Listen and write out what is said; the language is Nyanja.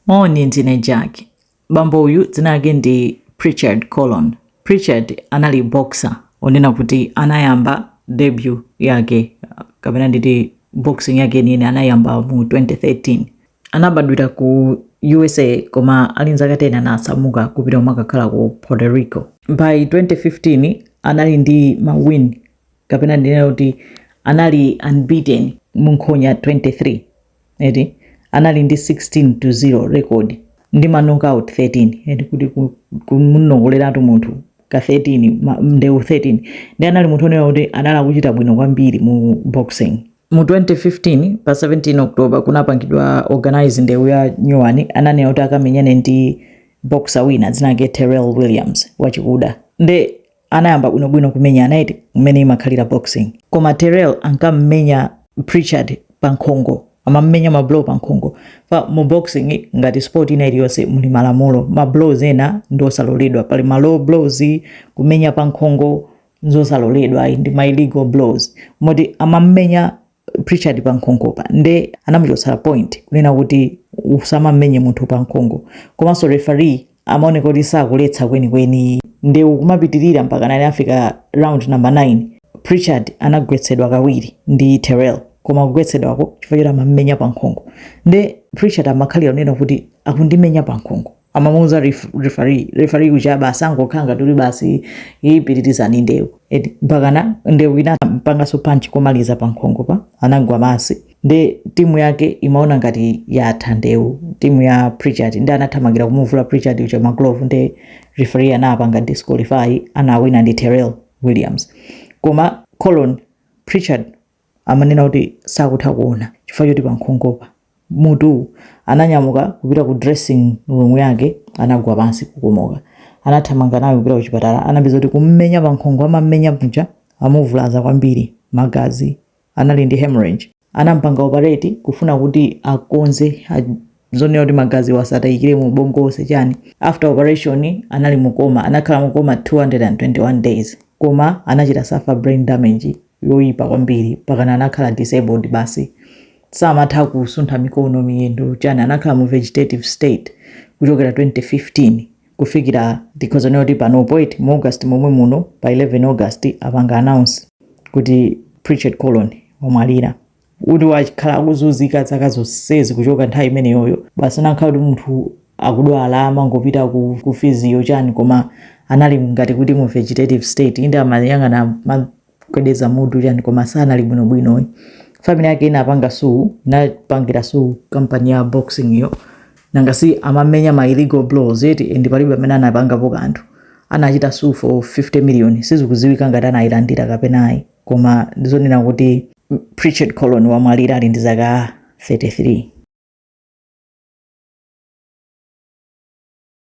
Moni, ndine Jack. Bambo uyu dzina lake ndi Prichard Colon. Prichard anali boxer onena kuti anayamba debut yake kapena nditi boxing yake yeniyeni anayamba mu 2013 anabadwira ku usa koma ali nzaka 10 anasamuka kupita kumakakhala ku puerto rico by 2015 anali ndi mawin kapena ndinena kuti anali unbeaten mu nkhonya 23 eti anali ndi 16 to 0 record ndi ma knockout 13 eti kuti ku- kumunongoleratu munthu ka 13 ma- ndewu 13 nde anali munthu onena kuti anali akuchita bwino kwambiri mu boxing mu 2015 pa 17 october kunapangidwa organize ndewu ya nyuwani ananena kuti akamenyane ndi boxer wina dzina lake terrell williams wachikuda nde anayamba bwinobwino kumenyana eti mmene imakhalira boxing koma terrell ankammenya prichard pa nkhongo amammenya mablow pa nkhongopa mu boxing ngati sport ina iliyonse muli malamulo mablows ena ndi osaloledwa pali ma low blows kumenya pa nkhongo nzosaloledwa ayi ndi ma illegal blows moti amammenya Prichard pa nkhongopa nde anamuchotsera point kunena kuti usamamenye munthu pa nkhongo komanso referee amaoneka kuti sakuletsa kwenikweni nde kumapitirira mpakana anafika round number 9 Prichard anagwetsedwa kawiri ndi Terrell koma kugwetsedwako chifukwa choti amamumenya pa nkhongo nde Prichard amakhalira kunena kuti akundimenya pa nkhongo amamuuza ref, referee referee uja basi angokhala ngati kuti basi pitirizani ndewu eti mpakana ndewu inampanganso punch komaliza pa nkhongopa anagwa basi nde timu yake imaona ngati yatha ndewu timu ya Prichard nde anathamangira kumuvula Prichard uja maglove nde referee anapanga disqualify anawina ndi Terrell Williams koma Colon Prichard amanena kuti sakutha kuona chifukwa choti pankhongopa, mutuwu, ananyamuka kupita ku dressing room yake anagwa pansi kukomoka. Anathamanga naye kupita kuchipatala anapeza kuti kummenya pankhongo amammenya muja amuvulaza kwambiri magazi anali ndi hemorrhage. Anampanga operate kufuna kuti akonze zonena kuti magaziwo asataikire mu ubongo wonse chani. After operation anali mu coma anakhala mu coma 221 days koma anachita suffer brain damage. yoyipa kwambiri mpakana anakhala disabled basi samatha kusuntha mikono miyendo chani anakhala mu vegetative state kuchokera 2015 kufikira tikhoza kunena kuti panopo eti mu august momwe muno pa 11 august apanga announce kuti prichard colon wamwalira kuti wakhala akuzunzika zaka zonsezi kuchoka nthawi imeneyoyo basi nakhala kuti munthu akudwala amangopita ku, ku fiziyo chani koma anali ngati kuti mu vegetative state inde amayang'ana amagwedeza mutu chani koma sanali bwinobwino ayi family yake inapanga suu inapangira suu kampani ya boxing yo nanga si amamenya ma illegal blows eti and palibe amene anapangapo kanthu anachita suu for 50 million sizikudziwika ngati anayilandira kapena ayi Koma ndizonena kuti Prichard Colon wamwalira ali ndi zaka 33.